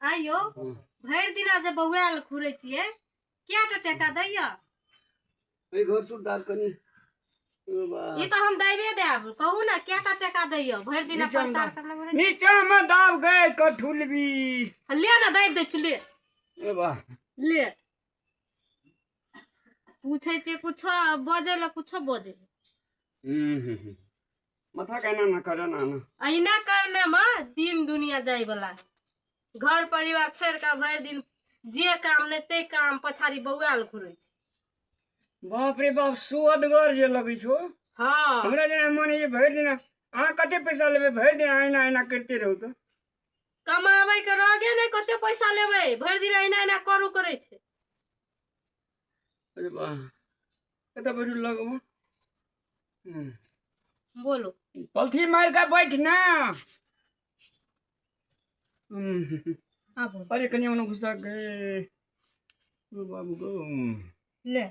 आ यौ भरि दिना जे बौआल घुरै छियै किया टा टाका दैया एहि घर सुट दाब कनी ओ बा ई तऽ हम दैबे देब कहू ने किया टा टाका दैया भरि दिना नीचा मे प्रचार दाब। करने घुरै नीचा मे दाब गए कठुलबी छियै। ले ने दैब दै छी ले ए बा ले पूछै छियै कुछो बजै लए कुछो बजै हम्म, हम्म, हम्म। माथा कहना ना करे ना ना अहिना करने मे दिन दुनिया जाय वाला घर परिवार छोड़ के भरि दिन जे काम नहि ते काम पछाड़ी बौआल घुरे छै बाप रे बाप सुअदगर जे लगै छौ हँ हमरा जेना मन होइए भरि दिन अहाँ कते पैसा लेबै भरि दिन अहिना अहिना करिते रहू तऽ कमाबै के रोगे नहि कते पैसा लेबै भरि दिन अहिना अहिना करू करै छै अरे वाह कतऽ बैठू लगमे हम्म। बोलो पलथी मारि कऽ बैठ ने हम्म। आप बोलो अरे कनिया मने घुसा गए ओ बाबू गो हम्म। ले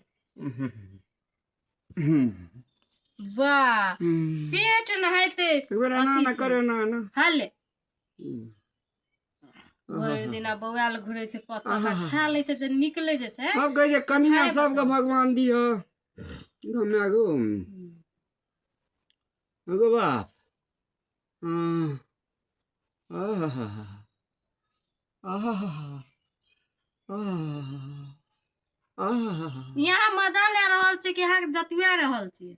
हम्म। वाह हम्म। सेट नहाइते ककरो ना ना करे ना ना हाले भरि दिना बौआल घुरे छै पत्ता ता खा लै छै जे निकले जे छै सब कहै छै कनिया सबके भगवान दियो हमरा गो गो बाप हँ आहा हा हा आहा हा हा आहा हा हा यहाँ मजा ले रहल छी कि यहाँ जतुआ रहल छी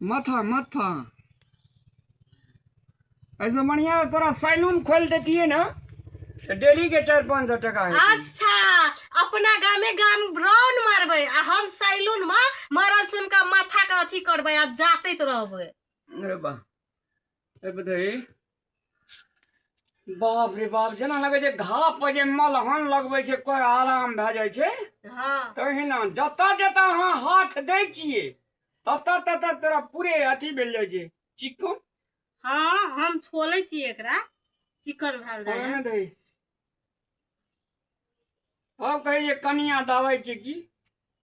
माथा माथा ऐसे बढ़िया तोरा सैलून खोल देतिए ना तो डेली के चार पाँच सौ टका है अच्छा अपना गामे गाम राउंड मारबे आ हम सैलून में मरल सुन के माथा के अथी करबे आ जाते रहबे अरे वाह अरे बताइए बाप रे बाप जेना लगै छै घाव पर जे मलहन लगबै छै कोइ आराम भए जाइ छै हाँ तहिना जतऽ जतऽ अहाँ हाथ दै छियै ततऽ ततऽ तोरा पूरे अथी भेल जाइ छै चिकन हाँ हम छोले छी एकरा चिकन भेल रहे ओहिमे दै आब कहै छै कनिया दवाइ छै की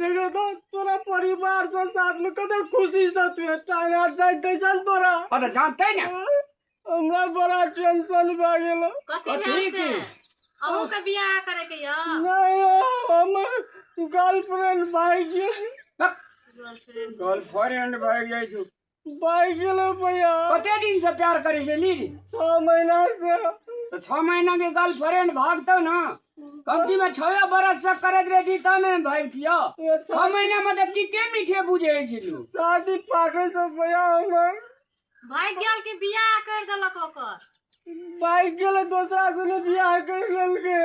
देख तो तोरा परिवार से साथ में कते खुशी से तू टांगा जाय दे चल तोरा ओ त जानते ना हमरा बड़ा टेंशन भ गेल कथी भेल से अहू के बियाह करे के य नहीं हमर गर्लफ्रेंड भाई गेल गर्लफ्रेंड गर्लफ्रेंड भाई जाय छु बाइ गेलै भैया कते दिन से प्यार करे छै लीड छओ महीना से तो छह महीना के गर्लफ्रेंड भागतो ना कमती में छह बरस से करत रहे थी तब में भागतियो ये छह छा- महीना में तो किते मीठे बुझे छै लोग शादी पाकै छै भैया हमर भागि गेल कि बियाह करि देलक ओकर बाइ गेलै दोसरा से ने बियाह करि लेलकै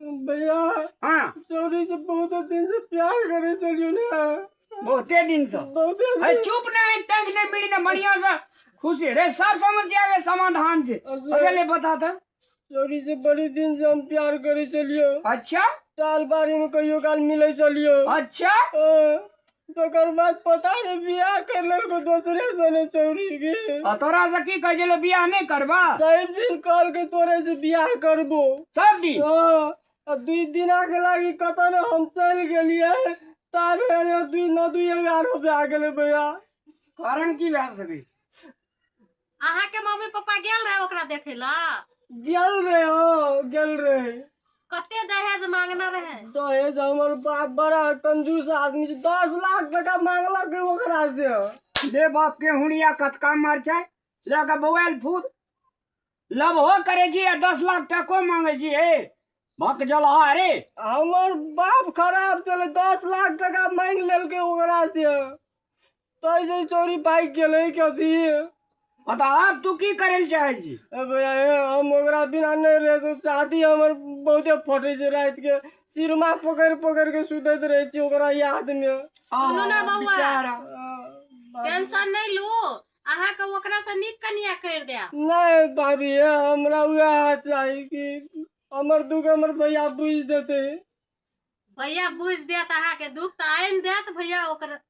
भैया हाँ चौरी से बहुत दिन से प्यार करे चलियो ना बहुते दिन से बहुते अरे चुप ना एक टाइम ने मिली ना बढ़िया से खुश है रे सब समस्या के समाधान छे अगर ले बता था चौरी से बड़ी दिन से हम प्यार करे चलियो अच्छा साल बारी में कहियो काल मिले चलियो अच्छा ओ, तकर बाद पता रे बियाह कर लेलको दोसरे सने चौरी के आ तोरा से की कहै छलै बियाह नहि करबा शैव दिन कॉल के तोरे से बियाह करबो सब दिन हाँ आ दुई दिना के लागी कत ने हम चल गेलिए तार दुई न दुई एगारह पे आ गेले भैया कारण की भए सकै अहाँ के मम्मी पापा गेल रहे ओकरा देखे ला गेल रहे हो गेल रहे कते दहेज मांगना रहे दहेज हमर बाप बड़ा कंजूस आदमी छै दस लाख टका मांगलक ओकरा से बे बाप के हुनिया कचका मार छै लऽ कऽ बौआल फूल लबहो करे छी आ दस लाख टको मांगे छी हे भक जलहा रे हमर बाप खराब चले दस लाख टका मांग लेलकै ओकरा से तै जे चोरी पाइ गेलै कथी हँ तऽ आब तू की करै लए चाहै छी ए भैया ए, हम ओकरा बिना नहि रह सकब। शादी हमर बहुते फटै छै राति के सिरमा पकड़ि पकड़ि के सुतैत रहै छी ओकरा याद मे सुनू ने बौआ। बेचारा। टेंशन नहीं लू अहा के ओकरा से निक कनिया कर दे नहि भाभी ए, हमरा उएह चाही कि हमर दुख हमर भैया बुझि देतै भैया बुझ देत अहा के दुख तो आन देत भैया ओकर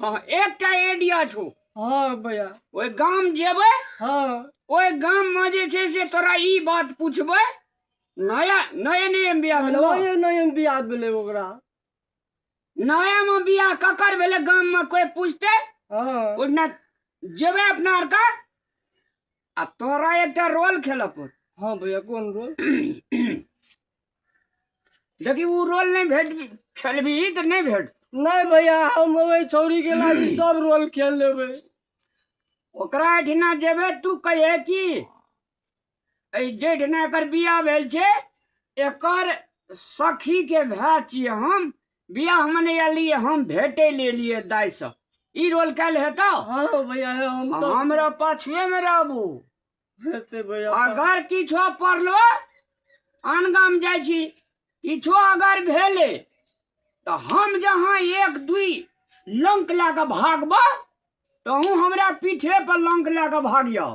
हाँ एकटा आइडिया छौ हाँ भैया ओहि गाम जेबै हाँ ओहि गाम में जे छै से तोरा ई बात पूछबै नया नए नए बियाह भेलै ओ? नए नए बियाह भेलै ओकरा नया में बियाह ककर भेलै गाम में कोई पूछते हाँ ओना जेबै अपना आरके आ तोरा एकटा रोल खेलऽ पड़ हाँ भैया कौन रोल देखी उ रोल नहीं भेट खेलबी तो नहीं भेट नहीं भैया हम वही छोरी के लागी सब रोल खेल लेबे ओकरा एठिना जेबे तू कहे कि एहि जेठिना एकर बियाह भेल छै एकर सखी के भाय छियै हम बियाहमे नहि एलियै हम भेटै ले एलियै दाइसँ ई रोल काल्हि हेतौ हाँ भैया है हम सब हमरा पाछुएमे रहबू हेते भैया अगर किछो पड़लो आन गाम जाइ छी किछो अगर भेलै तऽ हम जहाँ एक दुई लंक लए कऽ भागबह तहूँ हमरा पीठे पर लंक लए कऽ भागियह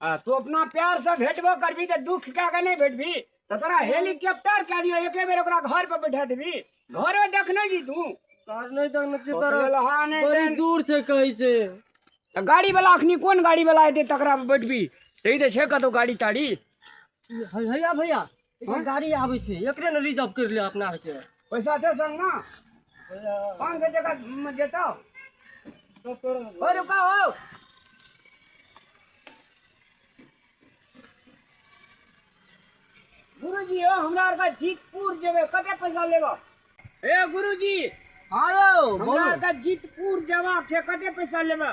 आ तू अपना प्यार से भेटबो करबी तो दुख क्या के नहीं भेटबी तो तोरा हेलीकॉप्टर कह दियो एके बेर ओकरा घर पर बैठा देबी घरो देख नहीं जी तू घर नहीं तक न चितर लहा नहीं बड़ी देन। दूर से कहै छै तो गाड़ी वाला अखनी कौन गाड़ी वाला एते तकरा पर बैठबी तो ई तो छे कतौ गाड़ी ताड़ी हैया भैया एगो गाड़ी आबै छै एकरे ने रिजर्व करि लिअ अपना आरके पैसा छै संगमे पाँच सए टाका मे देतौ हो रुका हो गुरुजी यौ हमरा आरके जीतपुर जेबै कते पैसा लेबऽ ए गुरुजी हँ यौ हमरा बोलू आरके जीतपुर जेबाक छै कते पैसा लेबऽ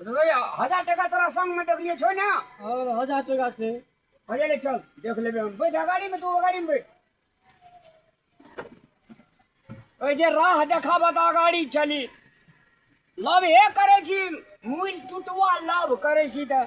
हजार टका तोरा संग में देखलिए छो ना और हजार टका से हजार चल देख लेबे हम बैठ गाड़ी में तू गाड़ी में बैठ ओए जे राह देखा बता गाड़ी चली लव हे करे छी मुल टुटुआ लव करे छी त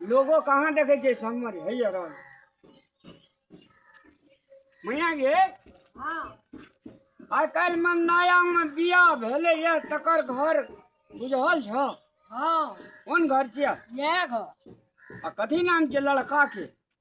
लोगो कहाँ देखे छै सम्मर है यार मैया गे हाँ आइ काल्हि में नया में बिया भेले ये तकर घर बुझल छ हाँ कोन घर छियै यह घर आ कथी नाम छै लड़का के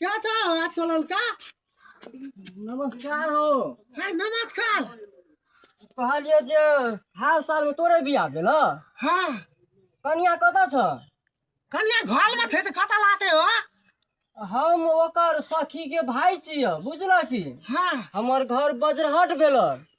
क्या था आज तो ललका नमस्कार हो है नमस्कार कहलिए जे हाल साल में तोरे बिया भेल हाँ कनिया कतऽ छ कनिया घर में छै तऽ कतऽ लाते हो हम ओकर सखी के भाई छियै बुझलह की हाँ हमर घर बजरहट भेल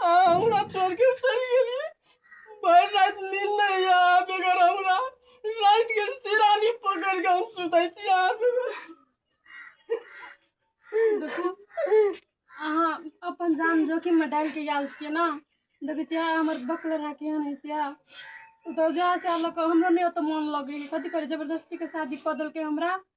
हाँ, हमरा छोड़ के चल गेलिए भर रात नींद नहीं यहाँ पे कर हमरा रात के सिरानी पकड़ के हम सुतै छी यहाँ पे देखू अहाँ अपन जान जोखिम में डाल के आयल छियै ना देखै छियै हमर बकल रहा केहन है से ओ तऽ जहाँ से लऽ कऽ हमरो नहि ओतऽ मोन लगै है कथी करी जबरदस्ती के शादी कऽ देलकै हमरा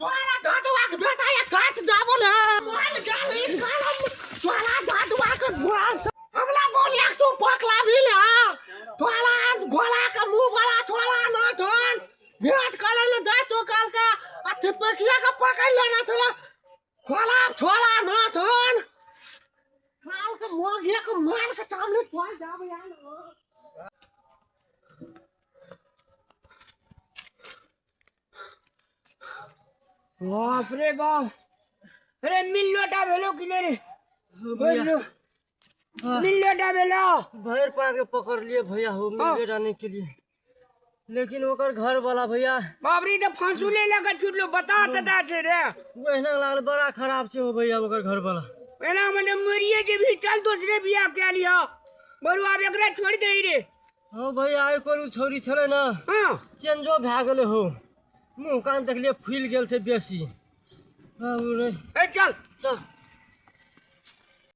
तोरा दादुआ के बेटा ये काट जाबो ले बोल गाली करम तोरा दादुआ के भोर हमरा बोल एक तू पकला भी ले तोरा गोला के मुंह वाला छोरा ना धन भेट करे ले जा तो काल के आ तिपकिया के पकड़ लेना चला गोला छोरा ना धन काल के मोगिया के मार के सामने पहुंच जाबो यार बाप रे बाप अरे मिल लोटा भेलो कि नहीं रे भैया मिल लोटा भेलो भैर पा के पकड़ लिए भैया हो मिल हाँ। लोटा नहीं के लिए लेकिन ओकर घर वाला भैया बाप रे तो फांसू ले लगा चुटलो बता तदा छे रे वो एना लागल बड़ा खराब छे हो भैया ओकर घर वाला एना मने मरिए जे भी चल दूसरे बियाह के लिया बरुआ एकरा छोड़ दे रे हँ भैया आइ कोन छौरी छलै ने हँ चेंजो भए गेलै हो मुँह कान देखलियै फुलि गेल छै बेसी बाबू रे ए चल चल